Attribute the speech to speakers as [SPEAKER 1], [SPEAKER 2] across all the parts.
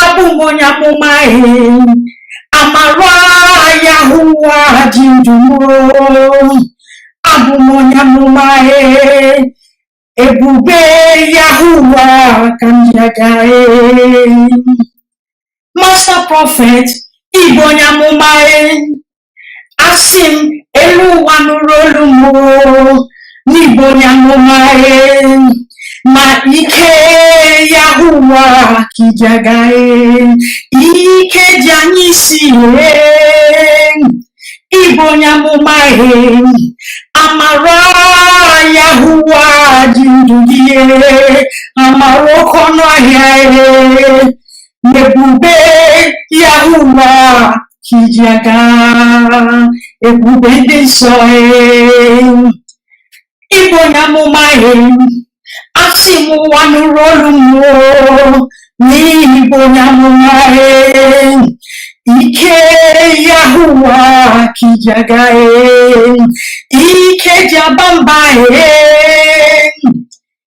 [SPEAKER 1] abụ m onye amụma e amara yahuwa ji ndụ m o abụ m onye amụma e ebube yahuwa ka m ji aga e master prophet ị bụ onye amụma e asị m elu ụwa nụrụ olu m na ị bụ onye amụma ma ike yahuwa ka i ji aga ike ji anya isi ị bụ onye amụma amara yahuwa ji ndụ gị amara oke ọnụ ahịa ebube Yahuwa ka i ji aga ebube ndị nsọ ị bụ onye amụma asị m ụwa nụrụ olu m o na ị bụ onye amụma ike Yahuwa ka i ji aga ike ji aba mba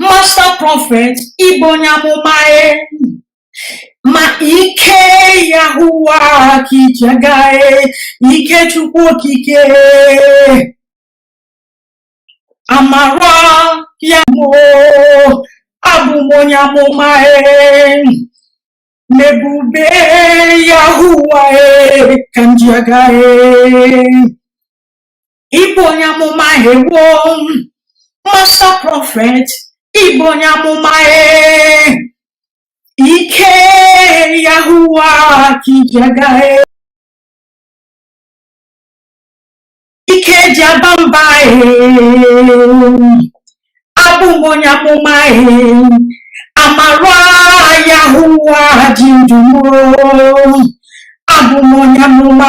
[SPEAKER 1] master prophet ị bụ onye amụma e. ma ike yahuwa ka i ji aga e. ike chukwu okike amara ya m abụ m onye amụma e. ma ebube yahuwa e, ka m ji aga e. ị bụ onye amụma ewo master prophet ị bụ onye amụma ee ike yahuwa ka i ji aga ike ji aba mba abụ m onye amụma amara yahuwa ji ndụ m o abụ m onye amụma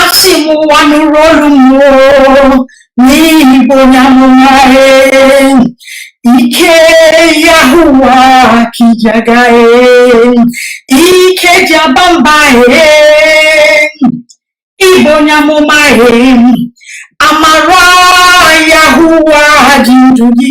[SPEAKER 1] asị m ụwa nụrụ olu m o na ị bụ onye amụma ike yahuwa ka i ji aga ike ji aba mba ị bụ onye amụma amara yahuwa ji ndụ gị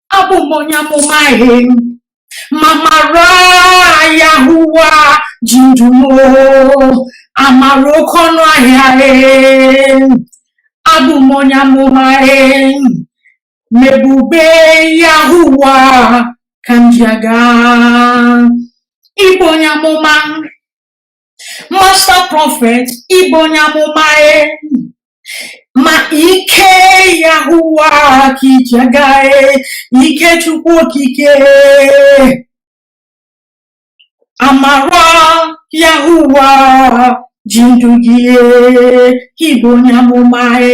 [SPEAKER 1] abụ m onye amụma e ma amara yahuwa ji ndụ m amara oke ọnụ ahịa ee abụ m onye amụma ee ma ebube yahuwa ka m ji aga ị bụ onye amụma master prophet ị bụ onye amụma e. ma ike yahuwa ka i ji aga e. ike chukwu okike amara yahuwa ji ndụ gị e. ị bụ onye amụma e.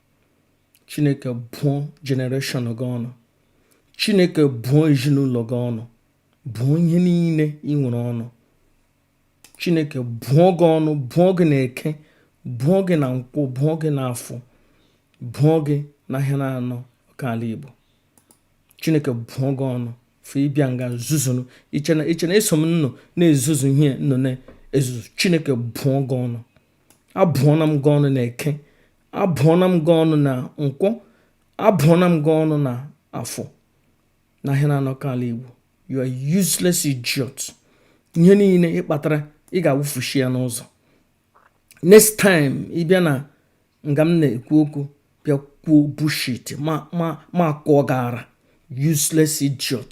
[SPEAKER 2] chineke bụọ generation gị ọnụ chineke bụọ ezinụlọ gị ọnụ bụọ ihe niile ị nwere ọnụ chineke bụọ gị ọnụ bụọ gị na eke bụọ gị na nkwọ bụọ gị na afọ bụọ gị na ahịa na anọ ka ala igbo chineke bụọ gị ọnụ fe ịbịa nga zuzunu i che na i che na eso m unu na-ezuzu ihe unu na-ezuzu chineke bụọ gị ọnụ abụọna m gị ọnụ na eke abụọna m gị ọnụ na nkwọ abụọna m gị ọnụ na afọ na ahịa na anọ ka ala igbo you are useless idiot ihe niile ị kpatara ị ga-awụfushi ya n'ụzọ next time ị bịa na nga m na-ekwu okwu bịa kwuo bullshit ma ma m akụọ gị ara useless idiot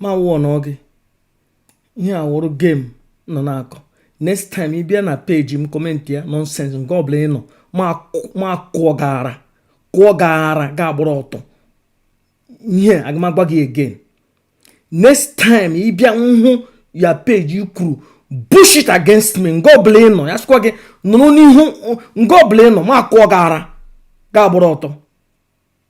[SPEAKER 2] ma wụọ na ọ gị ihe a wụrụ game unu na-akọ next time ị bịa na page m kọmentịa nonsense nga ọbụla ị nọ m akụọ gị ara kụọ gị ara ga-agbụrụ ọtọ ihe aga m agwa gị again next time ị bịa nhụ ya page kwuru bullshit against me nga ọbụla ị nọ ya sọkwa gị nọrọ n'ihu nga ọbụla ị nọ m akụọ gị ara ga-agbụrụ ọtọ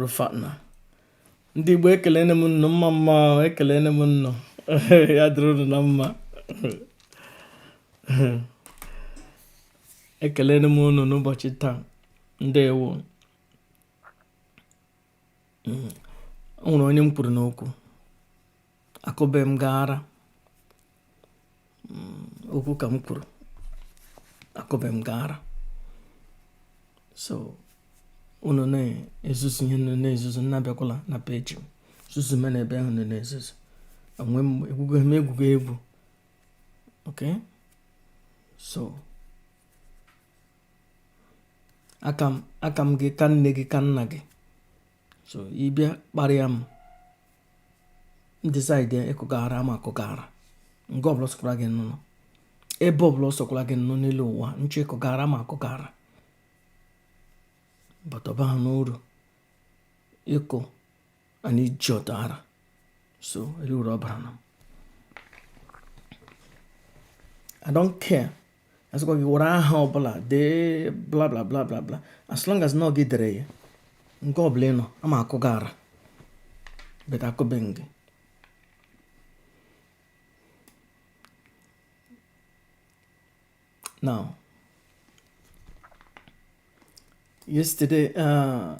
[SPEAKER 2] Rufatna ndị Igbo ekelene m nnụ mma mma ekelene m nnụ ya dịrị unu na mma ekelene m unu n'ụbọchị taa ndewo o nwere onye m kwuru n'okwu akụbe m gị ara mm, okwu ka m kwuru akụbe m gị ara so unu na-ezuzu ihe unu na-ezuzu unu abịakwala na page m zuzu me na ebe ahụ unu na-ezuzu enwe m egwugo m egwugo egwu okay so aka m aka m gị ka nne gị ka nna gị so ị bịa kparịa m m decide ịkụ gị ara m akụ gị ara nga ọbụla sọkwara gị nọrọ ebe ọbụla ọ sọkwara gị nọrọ n'elu ụwa m chọọ ịkụ gị ara m akụ gị ara but ọ baha uru ịkụ an idiot ara so ele uru ọ baara m I don't care asịkwa gị were aha ọbụla dee bla bla bla bla bla as long as na ọ gị dere ya nke ọbụla ị nọ ama akụ gị ara beta akụbe gị now yesterday uh,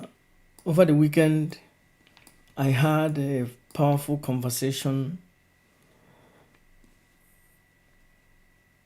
[SPEAKER 2] over the weekend i had a powerful conversation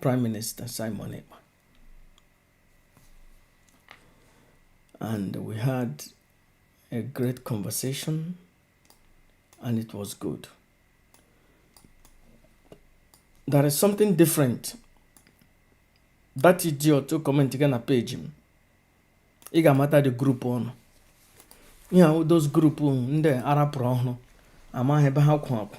[SPEAKER 2] Prime Minister Simon Ekpa. And we had a great conversation and it was good. There is something different. That idiot to comment again na page m. Ị ga-amata the group ọ nọ. Ihe ahụ those group ndị ara pụrụ ọhụrụ amaghị ebe ha kwụ akwụ.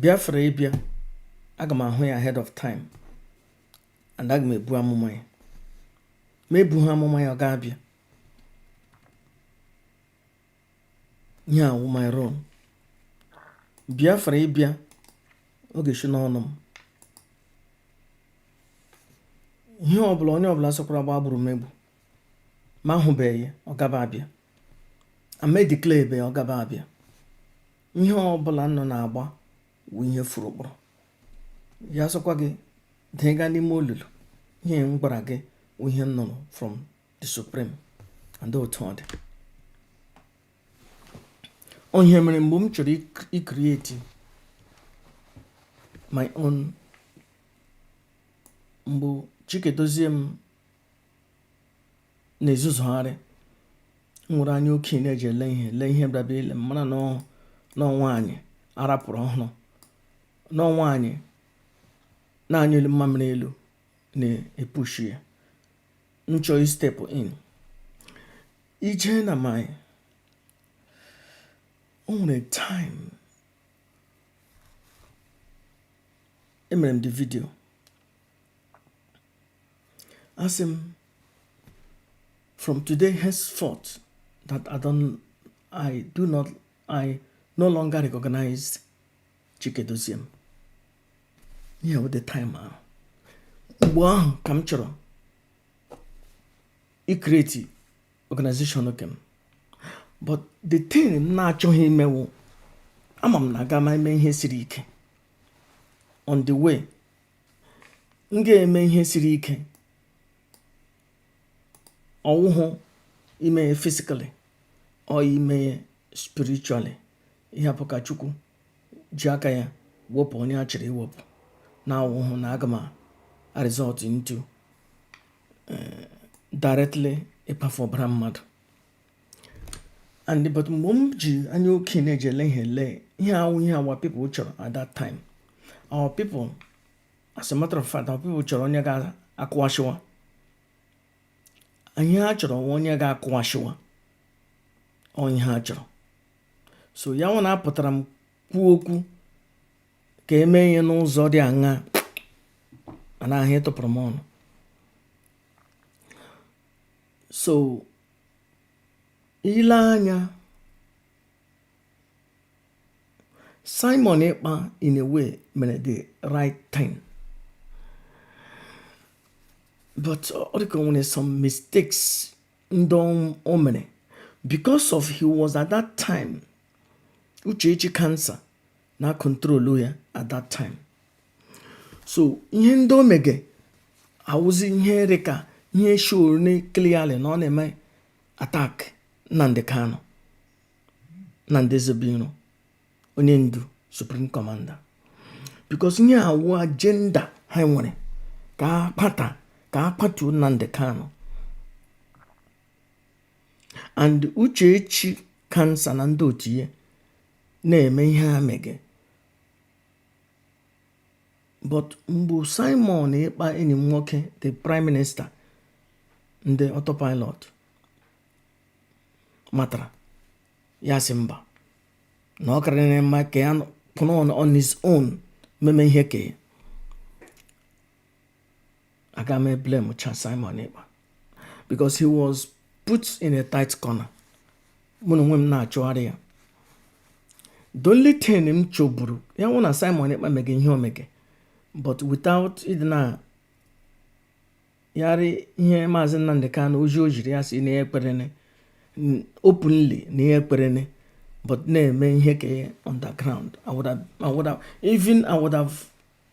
[SPEAKER 2] biafra ịbịa aga m ahụ ya ahead of time and aga m ebu amụma ya m ebuha amụma ya ọ ga-abịa ihe a wụ my role biafra ịbịa ọ ga-eshi n'ọnụ m ihe ọbụla onye ọbụla sọkwara gba gburugburu ma ahụbeghị ya ọ gaba abịa ama declare ebe ọ gaba abịa ihe ọbụla unu na-agba wụ ihe furu ụkpụrụ ya sọkwa gị dịga n'ime olulu ihe m gwara gị wụ ihe m nụrụ from the supreme and otu ọ dị ọ ihe mere mgbe m chọrọ ikrieti my own mgbe chika edoziem na-ezuzugharị m were anya okenye na-eji ele ihe lee ihe bịaba ile mara na ọ nwaanyị ara pụrụ ọhụrụ na ọ nwaanyị na-anyụli mmamịrị elu na-epushi ya m chọọ istepụ in i jee na my o nwere time emere m the video asị m from today henceforth that I don't I do not I no longer recognize Chika Edoziem ihe a wụ the time ahụ mgbe ahụ ka m chọrọ ikreti organization nke m but the thing m na-achọghị ime wụ ama m na aga m eme ihe siri ike on the way m ga-eme ihe siri ike ọwụhụ ime ya physically ọ ime ya spiritually ihe bụ ka chukwu ji aka ya wepụ onye a chịrị iwepụ na awụhụ na aga m result into eh, directly ịkpafu ọbara mmadụ and but mgbe m ji anya okenye ji ele ihe ele ihe awụ ihe our people chọrọ at that time our people as a matter of fact our people chọrọ onye ga-akụwasịwa ihe ha chọrọ wụ onye ga-akụwasịwa onye ha chọrọ so ya wụ na apụtara m kwuo okwu ka eme ihe n'ụzọ dị aṅaa mana ahụ ịtụpụrụ m ọnụ so i lee anya Simon Ekpa in a way mere the right thing but ọ dịka o nwere some mistakes ndị o mere because of he was at that time Uchechi cancer na control ya at that time so ihe ndị o mege awụzi ihe rị ka ihe show na clearly na ọ na-eme attack Nnamdi Kanu Nnamdi Ezebuiro onye ndu supreme commander because ihe awụ agenda ha nwere ka ka a kpatuo Nnamdi Kanu and Uchechi cancer na ndị otu ya na-eme ihe ha mege but mgbe Simon Ekpa enyi m nwoke the prime minister ndị autopilot matara ya sị mba na ọ karịrị mma ka ya kwụrụ on his own meme ihe ke ya aga m eblame cha Simon Ekpa because he was put in a tight corner mụ na onwe m na-achụgharị ya the only thing m chọburu ya wụ na Simon Ekpa mege ihe o mege but without ịdenyarị ihe maazị Nnamdi Kanu ozi o ziri ya sị na ya ekperene openly na ya ekperene but na-eme ihe ke ya underground I would have, I would have, even I would have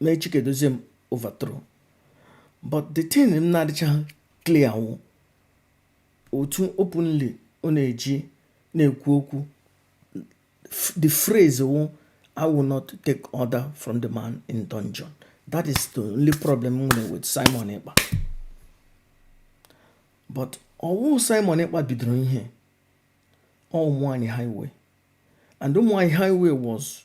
[SPEAKER 2] mee Chika Edoziem overthrow but the thing m na-adịcha clear wụ otu openly ọ na-eji na-ekwu okwu the phrase wụ I will not take order from the man in dungeon that is the only problem m nwere with Simon Ekpa but ọwụ Simon Ekpa bidoro ihe ọ ụmụnwaanyị highway and ụmụnwaanyị highway was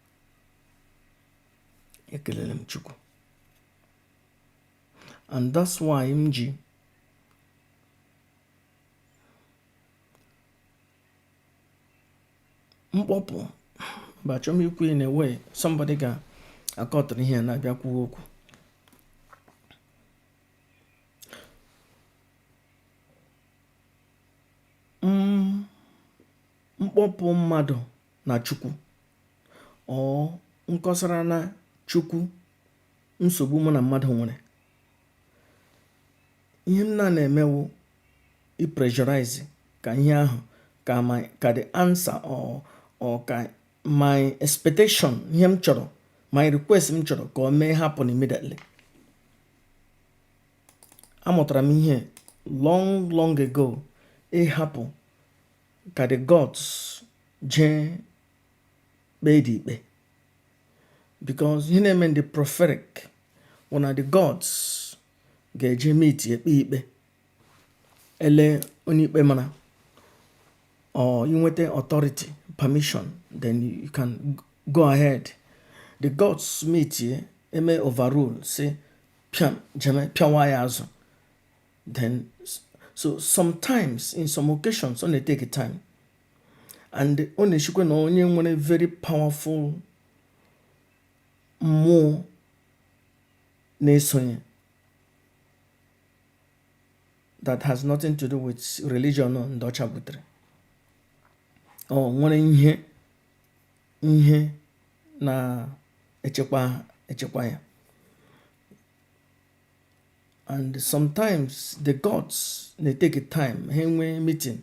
[SPEAKER 2] ekelele m chukwu and that's why m ji m kpọpụ but achọ m ikwu in a way somebody ga-akọtara ihe na-abịa kwuo okwu m kpọpụ mmadụ na Chukwu or m kọsara na Chukwu nsogbu mụ na mmadụ nwere ihe m na na-eme wụ i-pressurize ka ihe ahụ ka my ka the answer or or ka my expectation ihe m chọrọ my request m chọrọ ka o mee happen immediately amụtara m ihe long long ago ịhapụ ka the gods jee kpeedị ikpe because ihe na-eme ndị prophetic wụ na the gods ga-eje meetie kpee ikpe e lee onye ikpe mara or i nweta authority permission then you can go ahead the gods meetie mee overrule sị pịa jeme pịawa ya azụ then so sometimes in some occasions ọ na-etake time and ọ na-eshikwa na onye nwere very powerful mmụọ na-esonye that has nothing to do with religion ndị ọcha butere or nwere ihe ihe na-echekwa echekwa ya and sometimes the gods na-etake time ha enwee meeting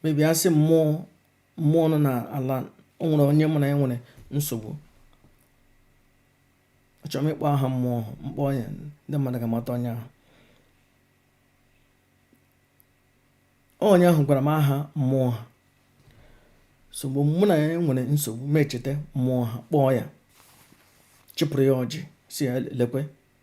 [SPEAKER 2] maybe a sị mmụọ mmụọ nọ na ala o nwere onye mụ na ya nwere nsogbu achọrọ m ịkpọ aha mmụọ ahụ m kpọọ ya ndị mmadụ ga-amata onye ahụ onye ahụ gwara m aha mmụọ ha so mgbe mụ na ya nwere nsogbu m echeta mmụọ ha kpọọ ya chịpụrụ ya ọjị sị ya lekwe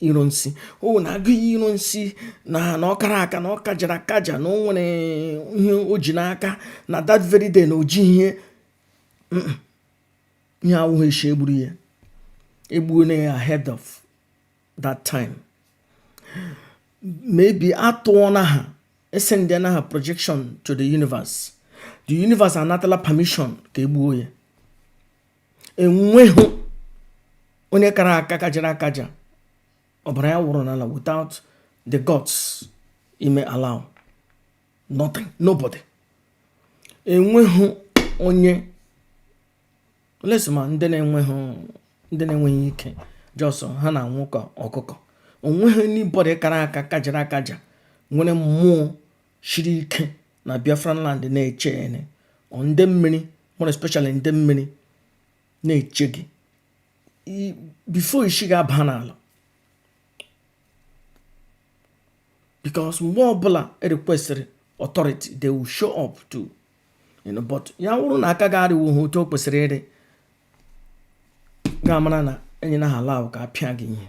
[SPEAKER 2] Ironsi o na Aguiyi Ironsi na na ọ kara aka na ọ kajara akaja na o nwere ihe o ji n'aka na that very day na o ji ihe ihe awụghị eshi e gburu ya e gbuola ya ahead of that time maybe atụọna ha esendịana ha projection to the universe the universe anatala permission ka e gbuo ya enweghị onye kara aka kajara akaja ọbara ya wụrụ n'ala without the gods ime allow nothing nobody enweghị onye unless ma ndị na-enweghị ike just ha na-anwụ ka ọkụkọ onweghị anybody kara aka kajara akaja nwere mmụọ shiri ike na biafran land na-eche ene nde mmiri more especially nde mmiri na-eche gị before isi gị aba n'ala because mgbe ọbụla e requestịrị authority they will show up to you know, but ya wụrụ na aka gị arịwo ha otu o kwesịrị ịrị ga-amara na enyela ha allow ka a pịa gị ihe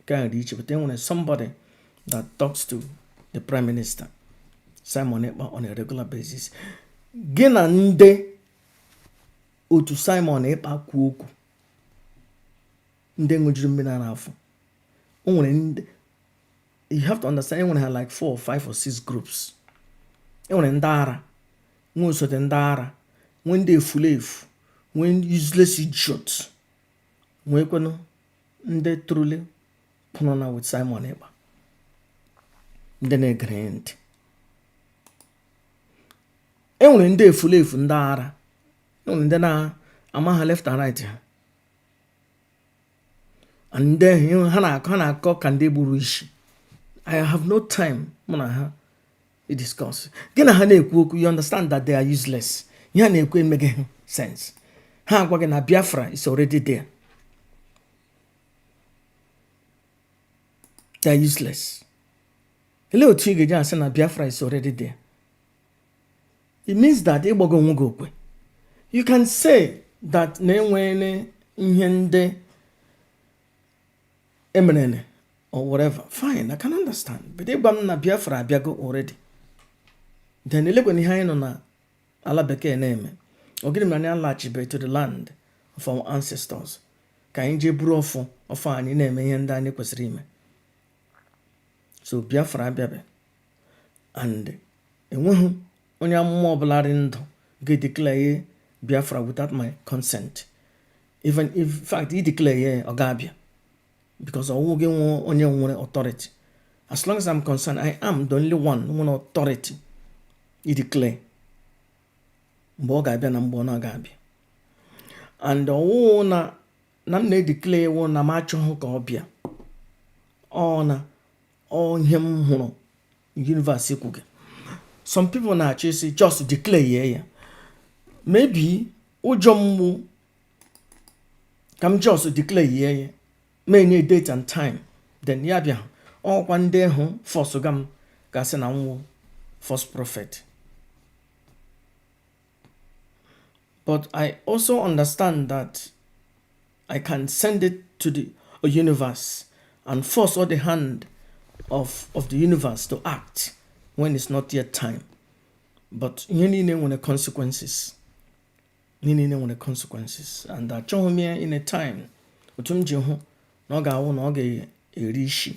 [SPEAKER 2] nke ahụ dị iche but enwere somebody that talks to the prime minister Simon Ekpa on a regular basis gị na ndị otu Simon Ekpa kwuo okwu ndị ṅụjuru mmiri ara afọ o nwere ndị you have to understand enwere ha like four or five or six groups enwere ndị ara nwee osote ndị ara nwee ndị efulefu nwee useless idiots nweekwanụ ndị truly kwụrụ na with Simon Ekpa ndị na-egere ntị e nwere ndị efulefu ndị ara e nwere ndị na-ama ha left and right ha and then ha na-akọ ka ndị gburu isi I have no time mụ na ha discuss gị na ha na-ekwu okwu you understand that they are useless ihe a na-ekwu emeghị ha sense ha agwa gị na biafra is already there they are useless elee otu ị ga-eji asị na biafra is already there it means that ịgbago onwe gị okwe you can say that na enwere ihe ndị emerene or whatever fine i can understand but ịgwa m na biafra abịago already then eleekwanụ ihe anyị nọ na ala bekee na-eme ọ gịnị mere anyị alachibe to the land of our ancestors ka anyị jee buru ọfọ ọfọ anyị na-eme ihe ndị anyị kwesịrị ime so biafra abịabe and enweghị onye amụma ọbụla dị ndụ ga-edeclare Biafra without my consent even in fact i declare ya ọ ga-abịa because ọwụ gị nwe onye nwere authority as long as I'm concerned I am the only one nwere authority i declare mgbe ọ ga-abịa na mgbe ọ na-aga-abịa and ọwụ na na m na-edeclare wụ na m achọghị ka ọ bịa ọ na ọ ihe m hụrụ universe kwuga some people na-achọ ịsị just declare ya ya maybe ụjọ mgbu ka m just declare ya m enye date and time then ya bịa ọ wụkwa ndị ahụ fọsụga m ga-asị na m wụ false prophet But I also understand that I can send it to the universe and force all the hand of, of the universe to act when it's not yet time. But ihe niile nwere consequences. And achọghị m ya in a time otu m ji hụ na ọ ga-awụ na ọ ga-eri isi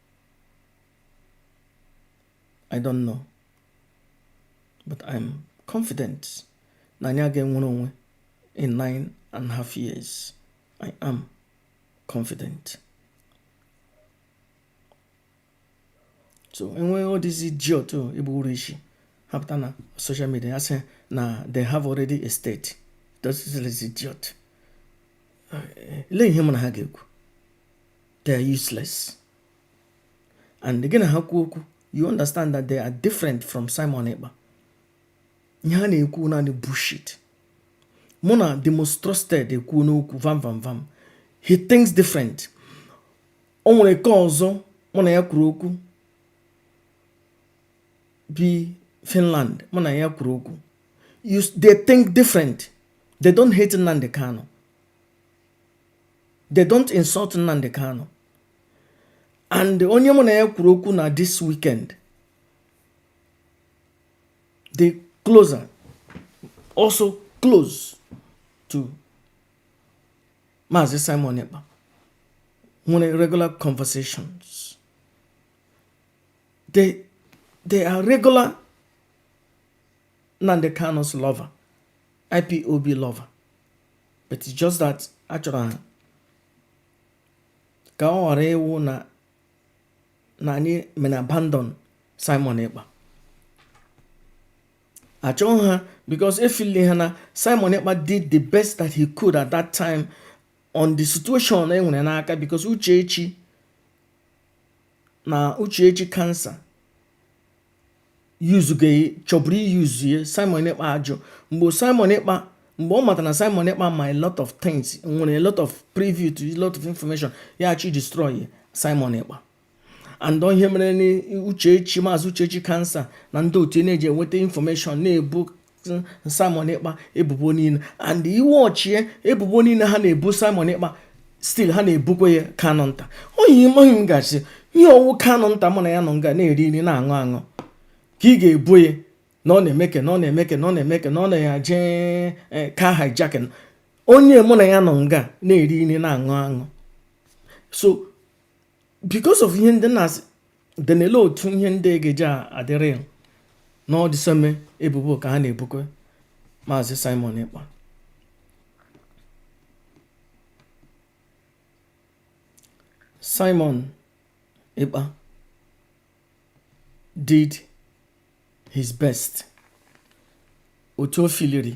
[SPEAKER 2] I don't know but I'm confident na anyị ga-enwere onwe in nine and a half years I am confident so e nwee all these idiot ịbụ uru isi ha pụta na social media asị na they have already a state those idiot lee ihe mụ na ha ga-ekwu they are useless and gị na ha kwuo okwu you understand that they are different from Simon Ekpa ihe ha na-ekwu naanị bullshit mụ na the most trusted ekwuna okwu vam vam vam he thinks different o nwere nke ọzọ mụ na ya kwuru okwu bi Finland mụ na ya kwuru okwu they think different they don't hate Nnamdi Kanu they don't insult Nnamdi Kanu and onye mụ na ya kwuru okwu na this weekend dị close also close to Maazị Simon Ekpa nwere regular conversations they they are regular Nnamdi Kanu's lover, IPOB lover. But it's just that a chọrọ ha ka ọ ghara ịwụ na na anyị mere abandon Simon Ekpa. Achọghị ha because efili ha na Simon Ekpa did the best that he could at that time on the situation e nwere n'aka because Uchechi na Uchechi cancer yuzuga ya chọburu iyuzu ya Simon Ekpa ajụ mgbe Simon Ekpa mgbe ọ mata na Simon Ekpa ma a lot of things nwere a lot of privy to a lot of information ya achọ destroy Simon Ekpa and ọ ihe mere na Uchechi Maazị Uchechi cancer na ndị otu ya na-eji enweta information na-ebu Simon Ekpa ebubo niile and iwe ọchie ebubo niile ha na-ebu Simon Ekpa still ha na-ebukwa ya Kanunta oyi maghị m gasị ihe ọ wụ Kanunta mụ na ya nọ nga na-eri nri na-aṅụ aṅụ ka ị ga-ebu ya na ọ na-emeke na ọ na-eje eh, car hijacking onye mụ na ya nọ nga na-eri nri na-aṅụ aṅụ so because of ihe ndị na-asị denele otu ihe ndị ga-eji adịrị ya na ọ the same ebubo ka ha na-ebukwe maazị Simon Ekpa Simon Ekpa did his best otu o filiri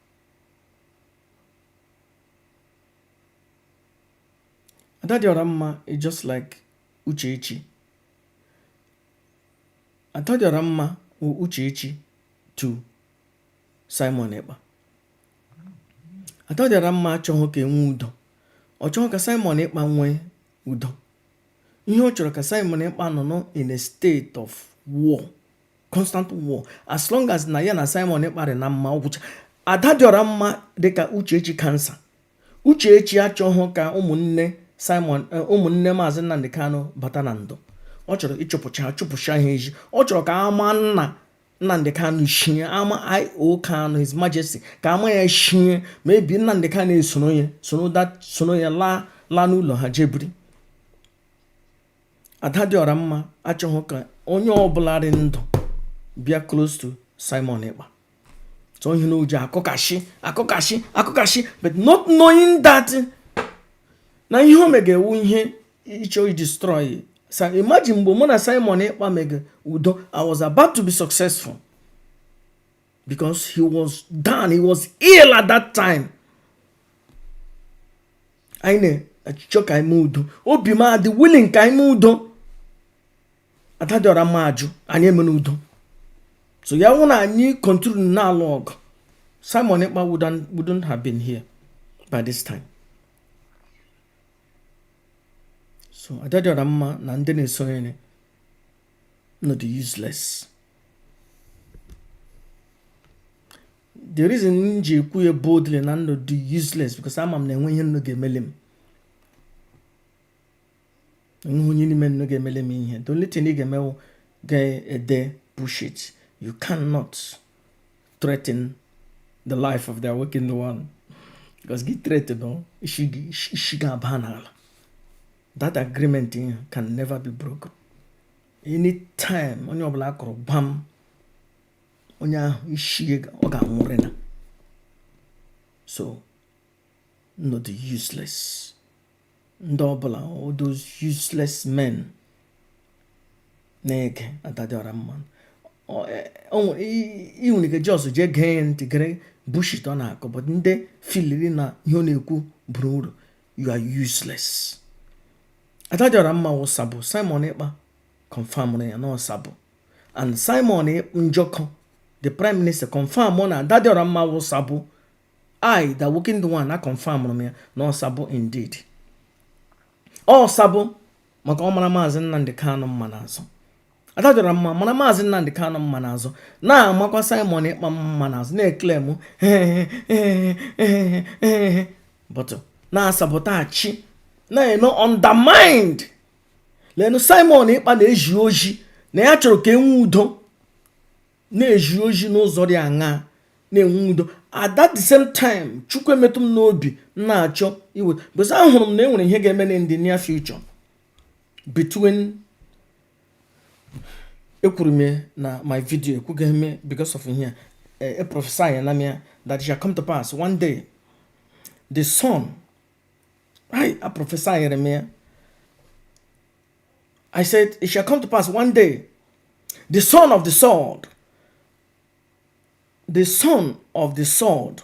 [SPEAKER 2] ada dị ọra mma is just like uchechi ada dị ọra mma wụ uchechi to simon ekpa ada dị ọra mma achọghị ka e nwee udo ọ chọghị ka simon ekpa nwee udo ihe ọ chọrọ ka simon ekpa nọ nọ in a state of war constant war as long as na ya na Simon Ekpa dị na mma ọ gwụcha ada dị ọra mma dịka Uchechi cancer Uchechi achọghị ka ụmụnne Simon eh, ụmụnne Maazị Nnamdi Kanu bata na ndụ ọ chọrọ ịchụpụcha chụpụcha ha ezi ọ chọrọ ka ama nna Nnamdi Kanu shie ama IO Kanu His Majesty ka ama ya shie maybe Nnamdi Kanu esoro ya soro ya laa laa n'ụlọ ha je biri ada dị ọra mma achọghị ka onye ọbụla dị ndụ bịa close to Simon Ekpa so ihe na o ji akụkashi akụkashi akụkashi but not knowing that na ihe o mega wụ ihe ịchọ destroy so imagine mgbe mụ na Simon Ekpa mega udo I was about to be successful because he was down he was ill at that time anyị na-achịchọ ka anyị mee udo obi m adị willing ka anyị mee udo ada dị ọra mma ajụ anyị emena udo so ya wụ na anyị continue na-alụ ọgụ Simon Ekpa wouldn't have been here by this time so ada dị ọra mma na ndị na-eso ya nnu dị useless the reason m ji ekwu ya boldly na nnu dị useless because ama m na enwe ihe nnu ga-emeli m enweghị onye n'ime nnu ga-emeli m ihe the only thing ị ga-eme wụ ị ga-ede bullshit you cannot threaten the life of the awakened one because gị threaten isi gị abaa n'ala that agreement can never be broken anytime onye ọbụla akụrụ gbam onye ahụ ishi ọ ga-anwụrị na so not useless ndị ọbụla all those useless men na-ege Adadịọra mma ị nwere ike just jee gee ntị gere bullshit ọ na-akọ but ndị filiri na ihe ọ na-ekwu bara uru you are useless Adadịọra mma wụ sabo Simon Ekpa confirmụrụ ya na ọ sabo and Simon Njoku the prime minister confirm na Adadịọra mma wụ sabo i the working the one aconfirmụrụ m ya na ọ sabo indeed ọ sabo maka ọ mara maazị nnamdị kanụ mma n'azụ Adadịọra mma mara maazị nnamdị kanụ mma n'azụ na-amakwa Simon Ekpa mma n'azụ na-eclaim but na-asabotage na-eme undermine lenu Simon Ekpa na-ezi ozi na ya chọrọ ka enwe udo na-ezi ozi n'ụzọ dị aṅaa na-enwe udo at that the same time chukwu emetụ m n'obi m na-achọ iwe because ahụrụ m na enwere ihe ga-eme in the near future between ekwuru m na my video ekwughị eme because of ihe a prophesy ya na m ya that shall come to pass one day the sun I, I prophesied him here. I said, It shall come to pass one day, the son of the sword, the son of the sword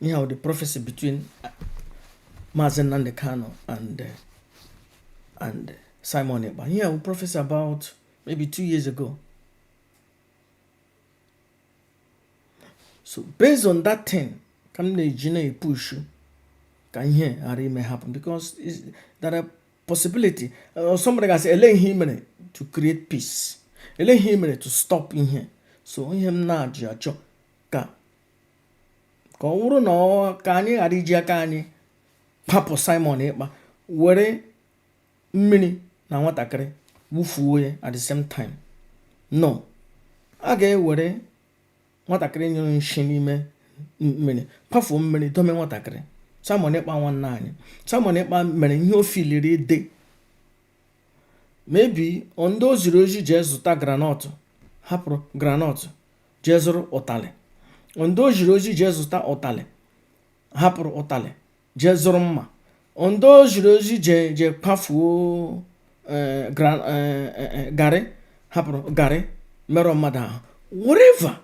[SPEAKER 2] ihe ahụ the prophecy between uh, Maazị Nnamdi Kanu and uh, and uh, Simon Ekpa ihe ahụ prophecy about maybe two years ago so based on that thing ka m na-eji na-epushu ka ihe ghara ime happen because there are possibility uh, somebody ga-asị ele ihe i mere to create peace ele ihe i mere to stop ihe so ihe m na-eji achọ ka ka ọ bụrụ na ọ ka anyị ghara iji aka anyị kpapụ Simon Ekpa were mmiri na nwatakịrị wufuo ya at the same time no a ga-ewere nwatakịrị nyụrụ nshi n'ime mmiri kwafuo mmiri dome nwatakịrị Simon Ekpa nwanne anyị Simon Ekpa mere ihe o filiri dị maybe ndị o ziri ozi jee zụta granọtụ hapụrụ granọtụ jee zụrụ ụtalị ndị o ziri ozi jee zụta ụtalị hapụrụ ụtalị jee zụrụ mma ndị o ziri ozi jee jee kwafuo eh, eh, eh, garị hapụrụ garị merụọ mmadụ ahụ whatever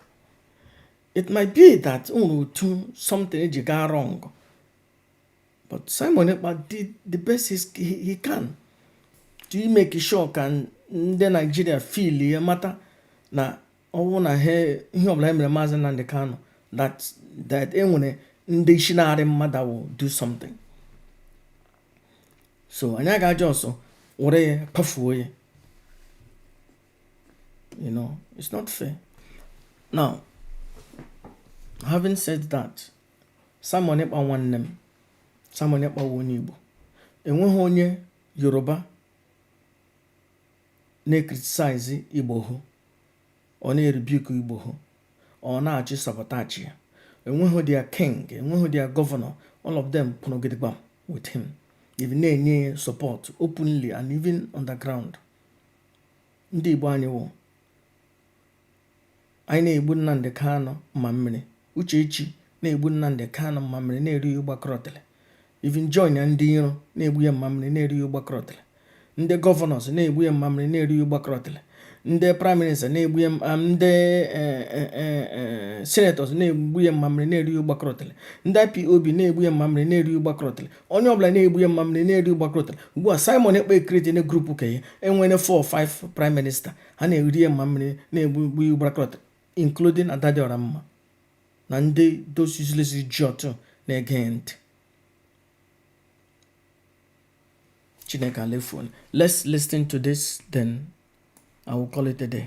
[SPEAKER 2] it might be that o nwere otu something eji gaa wrong but Simon Ekpa did the best he, he can to make sure ka ndị Naijiria feel ya mata na ọ wụ na ihe ọbụla e mere maazị Nnamdi Kanu that that e nwere ndị isi na-arị mmadụ will do something so anyị aga eji ọsọ were ya kpafuo ya you know it's not fair now having said that Simon Ekpa nwanne m Simon Ekpa wụ onye Igbo enweghị onye Yoruba na-ecriticize Igboho or na-erebuke Igboho or na-achọ ị sabotage ya enweghị their king enweghị their governor all of them kwụrụ gidigbam with him even na-enye ya support openly and even underground ndị Igbo anyị wụ anyị na-egbu Nnamdị Kanụ mma mmiri Uchechi na-egbu Nnamdị Kanụ mma mmiri na-eru ya ụgbakọrọtịrị even join ndị iro na-egbu ya mma mmiri na-eru ya ụgbakọrọtịrị ndị governors na-egbu ya mma mmiri na-eru ya ụgbakọrọtịrị ndị prime minister na-egbu ya ndị eh, eh, eh, senators na-egbu ya mma mmiri na-eru ya ụgbakọrọtịrị ndị IPOB na-egbu ya mma mmiri na-eru ya ụgbakọrọtịrị onye ọbụla na-egbu ya mma mmiri na-eru ya ụgbakọrọtịrị ugbu a Simon Ekpa e create na group ka ya enwere 4 5 prime minister ha na-eri ya mma mmiri na-egbu ya ụgbakọrọtịrị including Adadịọramma na ndị those useless idiot na-ege ntị chineke alefuon let's listen to this then i will call it a day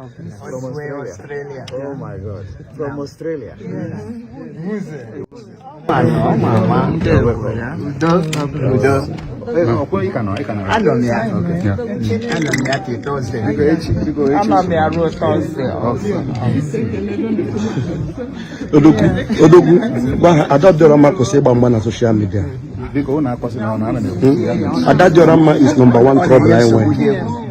[SPEAKER 3] Australia. Oh my God. From
[SPEAKER 4] Australia. Odogwu, Odogwu, gwa ha Adadịọramma kwụsị ịgba mgba na social media. Adadịọramma is number one trouble anyị nwere.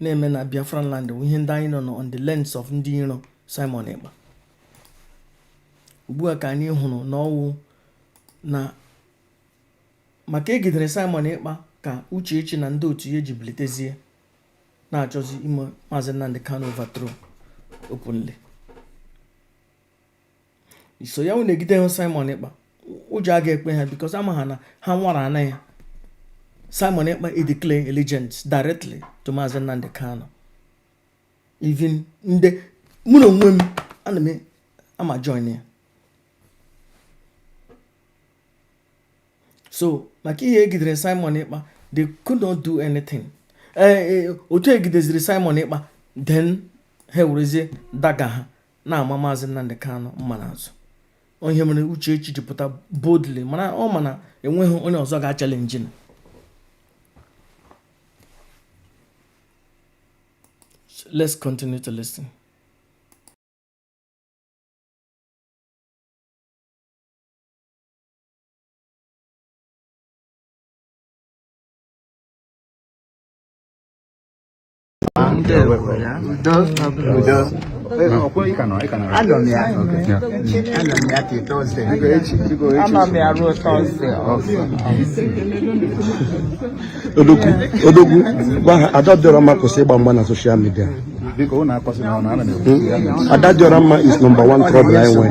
[SPEAKER 2] na-eme na Biafran land wụ ihe ndị anyị nọ na on the lens of ndị iro Simon Ekpa ugbu a ka anyị hụrụ na ọwụ na maka egidere Simon Ekpa ka Uchechi na ndị otu ya ji bilitezie na-achọzi ime Maazị Nnamdi Kanu overthrow openly so ya wụ na egidehu Simon Ekpa ụjọ aga ekwe ha because ama ha na ha nwara ana ya Simon Ekpa e declare allegiance directly to maazị Nnamdị Kanụ even ndị mụ na onwe m ana m ama join ya so maka ihe egidere Simon Ekpa they could not do anything eh, eh, otu egideziri Simon Ekpa then ha ewerezie dagger ha na-ama maazị Nnamdị Kanụ mma n'azụ ọ ihe mere Uchechi ji pụta boldly mana ọ ma na enweghị onye ọzọ ga-achalenji na let's continue to listen.
[SPEAKER 4] odogwu gwa Adadịọramma kwụsị ịgba mgba na social media Adadịọramma is number 1 trouble anyị nwere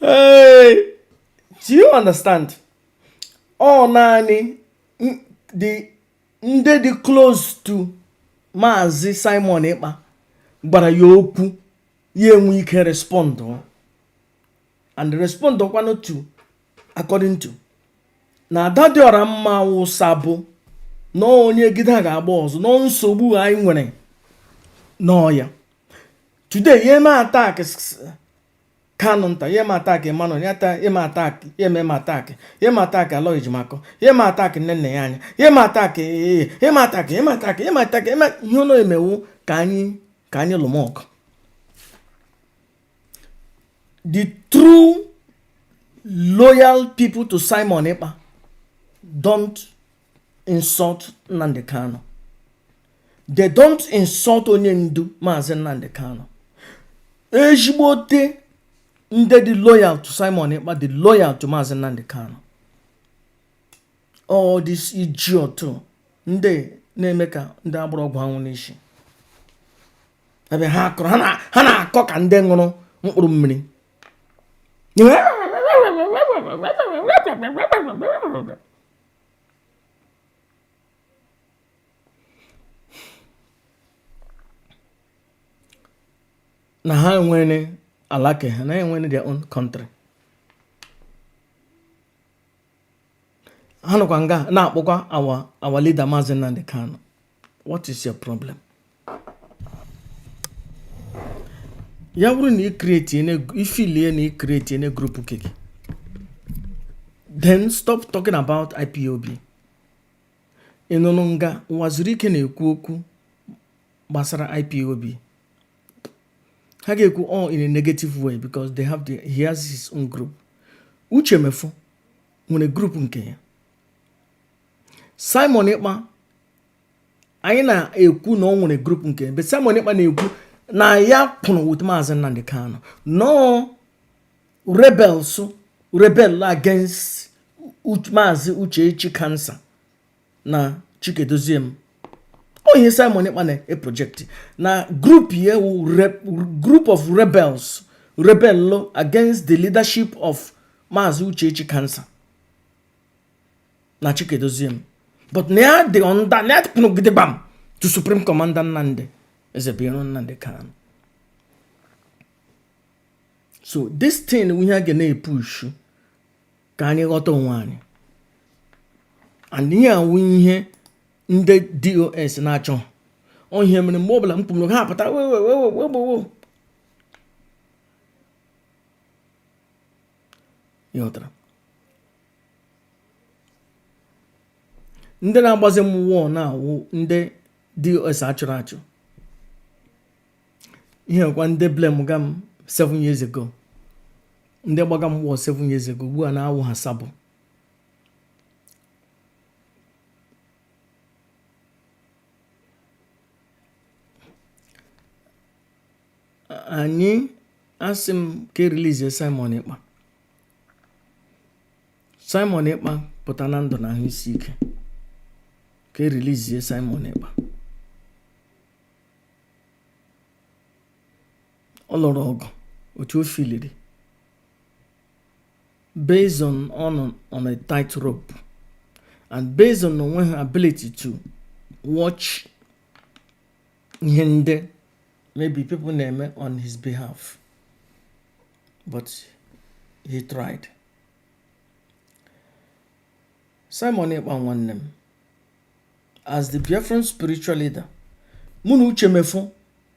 [SPEAKER 2] Hey, do you understand? Ọ naanị ndị dị close to Maazị Simon Ekpa gwara ya okwu ya enwe ike respond and respond kwanụ to according to na Adadịọramma wụsa bụ na onye gide a ga-agba ọsọ nọ nsogbu anyị nwere n'ọya today ya eme attack Kanunta ya eme attack Emmanuel ya eme attack ya eme eme attack ya eme attack Aloy Ejimakor ya eme attack Nnennaya Anya ya eme attack ee ya eme attack ya eme attack ya eme attack eme ihe ụlọ emewu ka anyị ka anyị lụmọkụ the true loyal people to Simon Ekpa don't insult Nnamdi Kanu. They don't insult onye ndu Maazị Nnamdi Kanu. Ezigbote ndị dị loyal to Simon Ekpa dị loyal to Maazị Nnamdi Kanu. All this idiot ndị na-eme ka ndị a gbụrụ ọgwụ anwụ n'isi. ebe ha akọrọ ha na-akọ ka ndị ṅụrụ mkpụrụ mmiri na ha enwere ala ke ha na enwere their own country ha nọkwa nga na-akpọkwa our leader Maazị Nnamdi Kanu what is your problem ya bụrụ na i feel na i create-ene group nke gị then stop talking about IPOB ị nọnụ nga nwezịrị ike na-ekwu okwu gbasara IPOB ha ga-ekwu all oh, in a negative way because they have the, he has his own group Uche Mefor nwere group nke ya Simon Ekpa anyị na-ekwu na ọ nwere group nke ya but Simon Ekpa na-ekwu na ya kwụrụ with Maazị Nnamdi Kanu na ọ rebels rebel against Maazị Uchechi Kansa na Chika Edoziem ọ ihe Simon Ekpa na-eprojekti na group ya awụ group of rebels rebel against the leadership of Maazị Uchechi Kansa na Chika Edoziem but na ya dị under na ya tụpụnụgide gbam to Supreme Commander Nnamdi Ezebiro Nnamdi Kanu so this thing ihe a ga na-epushu ka anyị ghọta onwe anyị and ihe a wụ ihe ndị DOS na-achọ ọ ihe mere mgbe ọbụla m kwuru ha apụta wewewewewewewo ịghọtara ndị na-agbazi m wọọ na-awụ ndị DOS achụrụ achụ ihe ọkwa ndị blame ga m 7 years ago ndị gbaga m wọ 7 years ago ugbu a na-awụ ha sabo anyị asị m ka erilizie Simon Ekpa Simon Ekpa pụta na ndụ na ahụ isi ike ka erilizie Simon Ekpa ọ lụrụ ọgụ otu o filiri based on on on a tight rope and based on o nweghị ability to watch ihe ndị maybe people na-eme on his behalf but he tried Simon Ekpa nwanne m as the Biafran spiritual leader mụ na Uche Mefor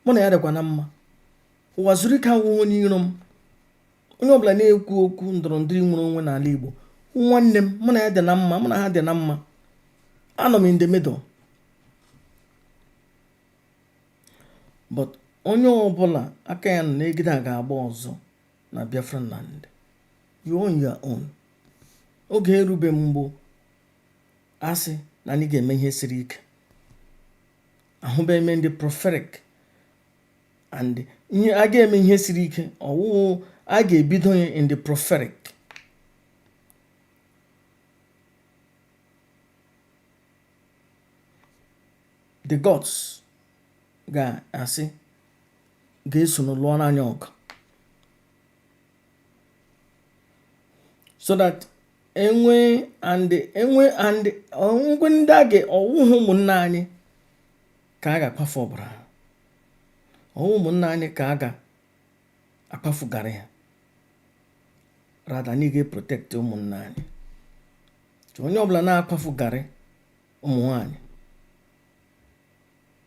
[SPEAKER 2] mụ na ya dịkwa na mma Ụwazuruike awụghị onye iro m onye ọbụla na-ekwu okwu ndọrọ ndọrọ nnwere onwe n'ala Igbo nwanne m mụ na ya dị na mma mụ na ha dị na mma anọ m in the middle but onye ọbụla aka ya nọ n'egbe a ga-agba ọzọ na Biafra land you're on your own oge erube mgbo asị na anyị ga-eme ihe siri ike ahụbeghị m ndị prophetic and ihe a ga-eme ihe siri ike ọ wụ a ga-ebido ya in the prophetic the gods ga-asị ga-eso n'ụlọ n'anya ọgụ so that enwe and enwe and ọnwụgwe ndị a ga ọ wụhụ ụmụnna anyị ka a ga-akwafu ọbara ha ọ wụhụ ụmụnna anyị ka a ga-akwafugarị ya rather anyị ga-eprotect ụmụnna anyị onye ọbụla na-akwafugarị ụmụ nwanyị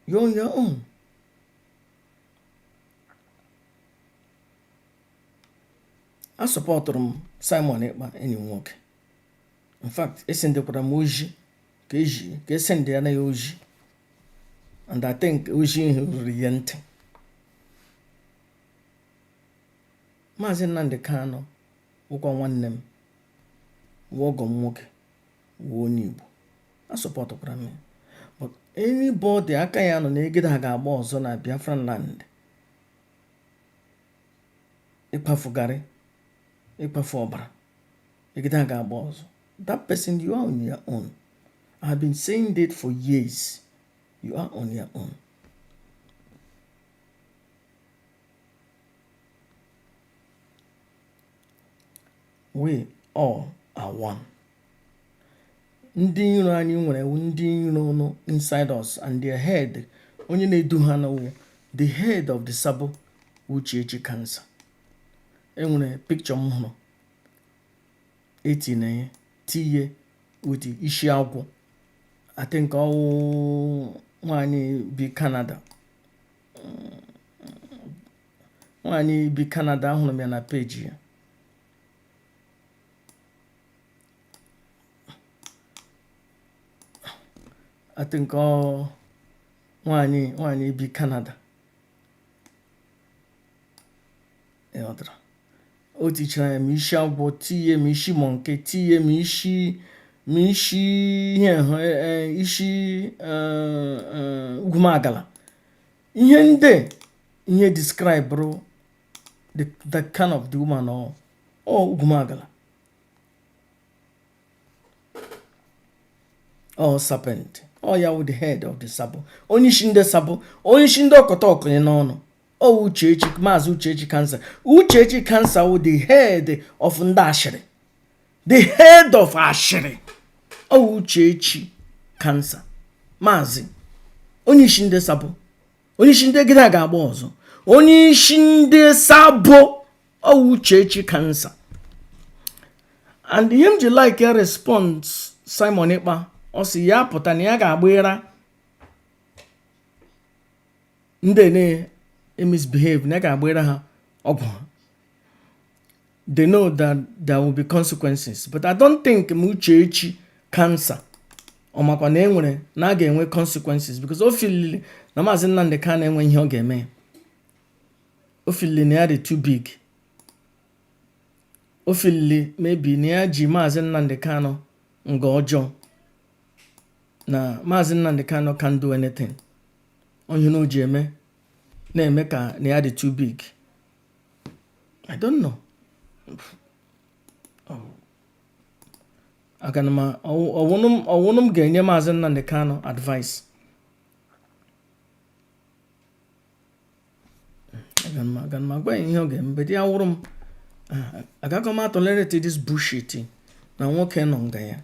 [SPEAKER 2] you are on your own asupportụrụ m Simon Ekpa enyi m nwoke in fact esendekwara m ozi ka esende ya na ya ozi and I think ozi ahụ ruru ya ntị maazị Nnamdi Kanu wụkwa nwanne m wụ ọgọ m nwoke wụ onye Igbo asupportụkwara m ya but anybody aka ya nọ na egede a ga-agba ọzọ na Biafra land ịkwafugarị ịkwafu ọbara egede a ga-agba ọzọ that person you are on your own I have been saying that for years you are on your own we all are one ndị iro anyị nwere ndị iro nọ inside us and their head onye na-edu ha nụ wụ the head of the sabo Uchechi cancer e nwere picture m hụrụ e tinye ya tinye with isi agwọ I think ọ wụ nwanyị bi Canada nwanyị bi Canada ahụrụ m ya na page ya I think ọ nwaanyị nwaanyị bi Canada ịghọtara o tichara ya ma isi agwọ tiye ma isi monkey tiye ma isi ma isi ihe hụ e, e, isi e, ugwumagala ihe ndị ihe describeụrụ the kind of the woman ọ ugwumagala ọ serpent ọ ya wụ the head of the sabo onye isi ndị sabo onye isi ndị ọkọta ọkụnye n'ọnụ ọ uchechi maazị uchechi cancer uchechi cancer wụ the head of ndị ashịrị the head of ashịrị ọ uchechi cancer maazị onye isi ndị sabo onye isi ndị egide a ga-agba ọzọ onye isi ndị sabo ọ wụ uchechi cancer and ihe m ji like response simon ekpa ọ sị ya pụta na ya ga-agbara ndị na-emisbehave na ya ga-agbara ha ọgwụ ha they know that there will be consequences but i don't think m uchechi cancer ọ makwa na enwere na a ga-enwe consequences because o filili na maazị nnamdi kanu enwe ihe ọ ga-eme o filili na ya dị too big o filili maybe na ya ji maazị Nnamdi Kanu nga ọjọọ na maazị Nnamdi Kanu can't do anything ọ ihe na o ji eme na-eme ka na ya dị too big I don't know aga m ọ wụnụ m ga-enye maazị Nnamdi Kanu advice aga m aga m agwa ya ihe ọ ga-eme but ya wụrụ m ah, agaghị m atọlereti this bullshit na nwoke nọ nga ya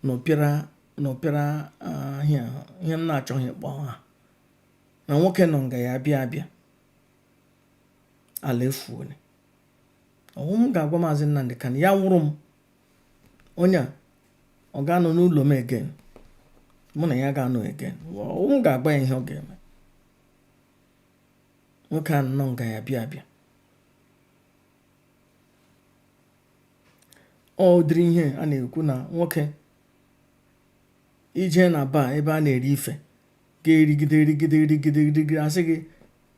[SPEAKER 2] na ọpịara na ọpịara ah, ihe a, ihe m na-achọghị ịkpọ aha na nwoke nọ nga ya bịa abịa ala efuole ọ wụ m ga-agwa maazị nnamdi kanu ya wụrụ m onye a ọ ga-anọ n'ụlọ m again mụ na ya ga-anọ again ọ wụ m ga-agwa ya ihe ọ ga-eme nwoke a nọ nga ya bịa abịa ọ dịrị ihe a na-ekwu na nwoke ị je na bar ebe a na-eri ife ga-erigide erigide erigide erigide a sị gị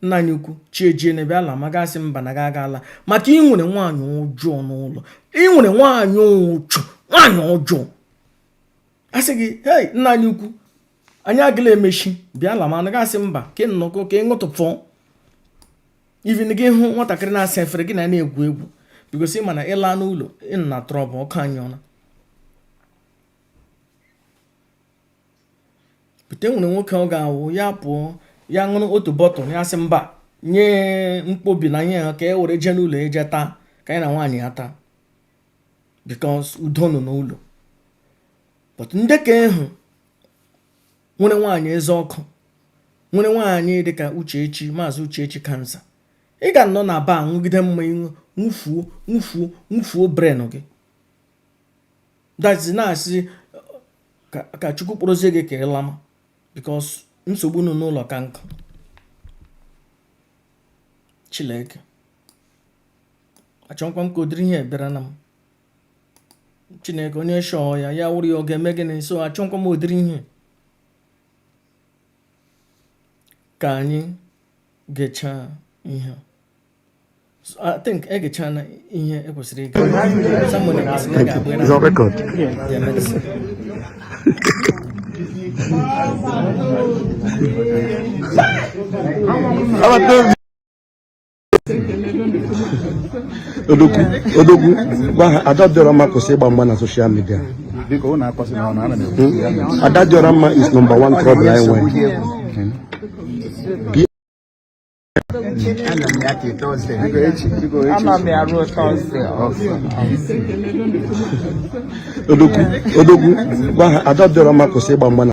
[SPEAKER 2] nna anyị ukwu chi ejienụ bịa lama ị ga-asị mba na ị gaga ala maka i nwere nwaanyị ọjọọ n'ụlọ i nwere nwaanyị ụchụ nwaanyị ọjọọ a sị gị hei nna anyị ukwu anyị agala emechi bịa lama ị ga-asị mba ka nnọkọ ka ị ṅụtụpụ even gị hụ nwatakịrị na-asa efere gị na ya na-egwu egwu because ị ma na ị laa n'ụlọ ị nọ na trouble ọkụ anyụọna but e nwere nwoke ọ ga-awụ ya pụọ ya ṅụrụ otu bottle ya sị mba nye nkwọbi na nye ha ka e were jee n'ụlọ jee taa ka anyị na nwaanyị ya taa because udo nọ n'ụlọ but ndị ke ahụ nwere nwaanyị eze ọkụ nwere nwaanyị dịka uchechi maazị uchechi cancer ị ga-anọ na bar nwụgide mmanya nwụfuo nwụfuo nwụfuo brain gị dazi na-asị ka chukwu kpọrọzie gị ka ị lama because nsogbu nọ n'ụlọ ka nkụ chileke achọkwa m ka ụdịrị ihe bịara na m chineke onye shọọ ya ya wụrụ ya ọ ga-eme gịnị so achọkwa m ụdịrị ihe ka anyị gechaa ihe So I think egechaana ihe e kwesịrị ige someone ekwesịrị ịga agba It's on
[SPEAKER 4] record.
[SPEAKER 2] their
[SPEAKER 4] medicine. How about those odogwu odogwu gwa ha ada dị ọra mma kwụsị ịgba mgba na social media ada dị ọra mma is number one trouble anyị nwere odogwu odogwu gwa ha ada dị ọra mma kwụsị ịgba mgba na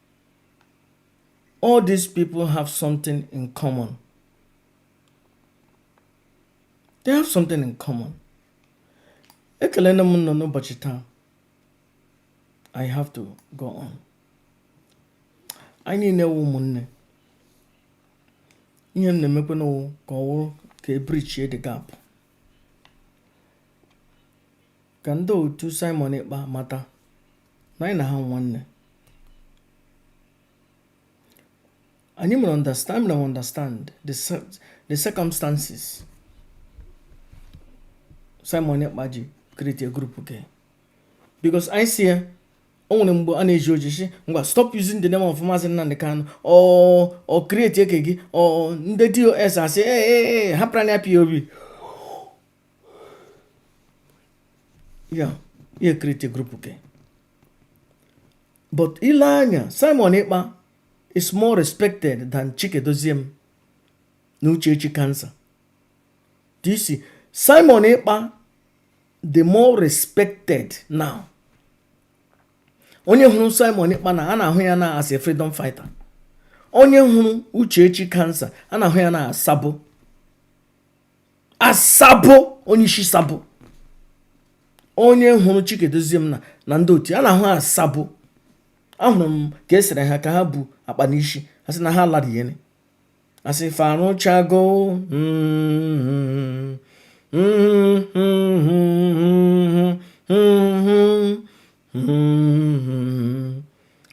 [SPEAKER 2] All these people have something in common. They have something in common. Ekelena m ụnụ n'ụbọchị taa. I have to go on. Anyị niile wụ ụmụnne. Ihe m na-emekwanụ wụ ka ọ wụrụ ka e bridgie the gap. Ka ndị otu Simon Ekpa mata na anyị na ha nwanne anyị mere understand na understand the, the circumstances Simon Ekpa ji create a group ke because anyị si ya o nwere mgbe a na-ezi ozi sị ngwa stop using the name of Maazị Nnamdi Kanu or create ke gị or ndị DOS asị ee hapụrụ anyị IPOB ya ya e create group ke but i lee anya Simon Ekpa is more respected than Chika Edoziem na Uchechi cancer do you see Simon Ekpa the more respected now onye hụrụ Simon Ekpa na a na-ahụ ya na as a freedom fighter onye hụrụ Uchechi cancer a na-ahụ ya na as sabo asabo onye isi sabo onye hụrụ chika edoziem na ndị otu a na-ahụ asabo ahụrụ m ka esere ha ka ha bu akpa n'isi asị na ha lara ihe asị fa rụchago mm-hmm.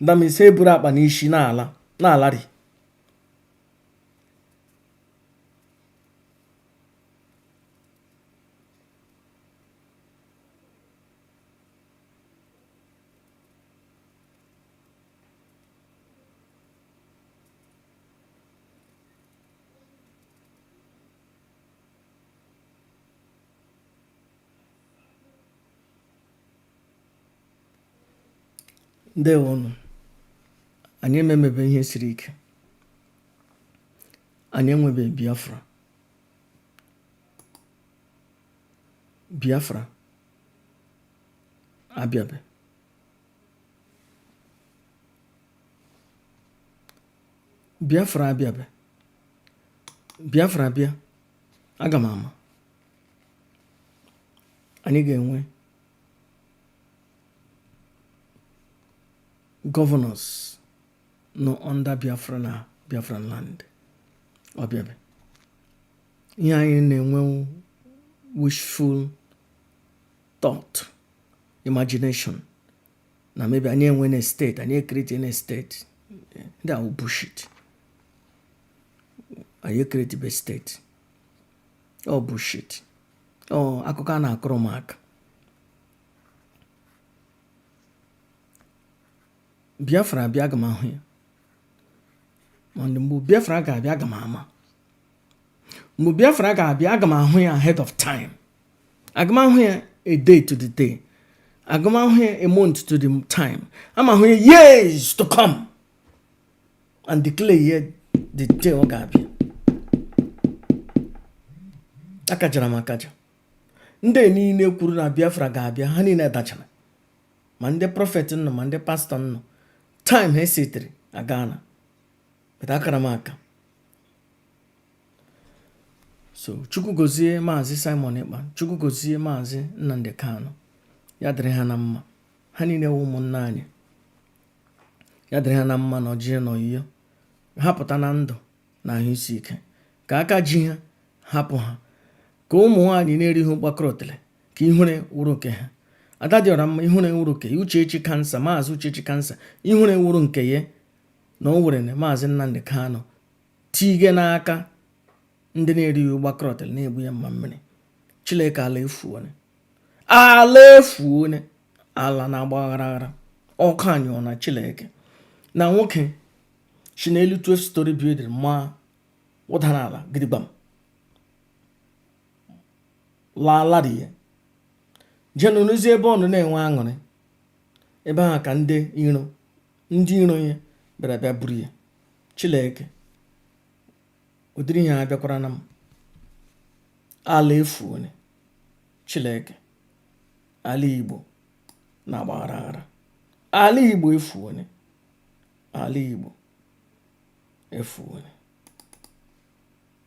[SPEAKER 2] ndamese eburu akpa n'isi na-ala na-alari ndewonụ anyị ememebe ihe siri ike anyị enwebe biafra biafra abịabe biafra abịabe biafra abịa aga m ama anyị ga-enwe governors nọ under Biafra na Biafran land ọ bịabe ihe anyị na-enwe wishful thought imagination na maybe anyị enwena state anyị ecreatena state ndị ahụ bullshit anyị ecreatebe state ọ bullshit ọ akụkọ a na-akọrọ ụmụaka biafra abịa aga m ahụ ya mana mgbe biafra ga-abịa aga m ama mgbe biafra ga-abịa aga m ahụ ya ahead of time aga m ahụ ya a day to the day aga m ahụ ya a month to the time aga m ahụ ya years to come and declare ya the day ọ ga-abịa akajara m akaja ndị niile kwuru na biafra ga-abịa ha niile dachara ma ndị prophet nọ ma ndị pastor nọ time ha setịrị agana but akara m aka so chukwu gozie maazị simon ekpa chukwu gozie maazị nnamdi kanu ya dịrị ha na mma ha niile wụ ụmụnna anyị ya dịrị ha na mma na ojije na ọyịyọ ha pụta na ndụ na ahụ isi ike ka aka ji ha hapụ ha ka ụmụ nwaanyị na-erighị mkpakọrọtele ka ihere wụrụ nke ha ada dị ọra mma ihere wụrụ nke ya uchechi kansa maazị uchechi kansa ihere wụrụ nke ya na o were na maazị nnamdị kanụ tige n'aka ndị na-erighị ụgba krọtịl na-egbu ya mma mmiri chileke ala efuone ala efuone ala na-agba aghara aghara ọkụ anyụọna chileke na nwoke si n'elu twelve storey building maa wụdara ala gidigbam laala di ya je nọ n'ezi ebe ọ nọ na-enwe aṅụrị ebe ahụ ka ndị iro ndị iro ya bịara bịa buru ya Chineke ụdịrị ihe abịakwarana m ala efuone Chineke ala Igbo na-agba aghara aghara ala Igbo efuone ala Igbo efuone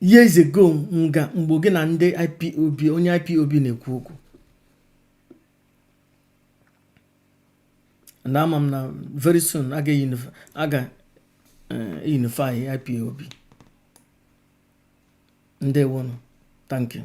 [SPEAKER 2] years ago nga mgbe gị na ndị ipob onye ipob na-ekwu okwu and ama m na very soon a ga eh, unify ipob ndewonụ thank you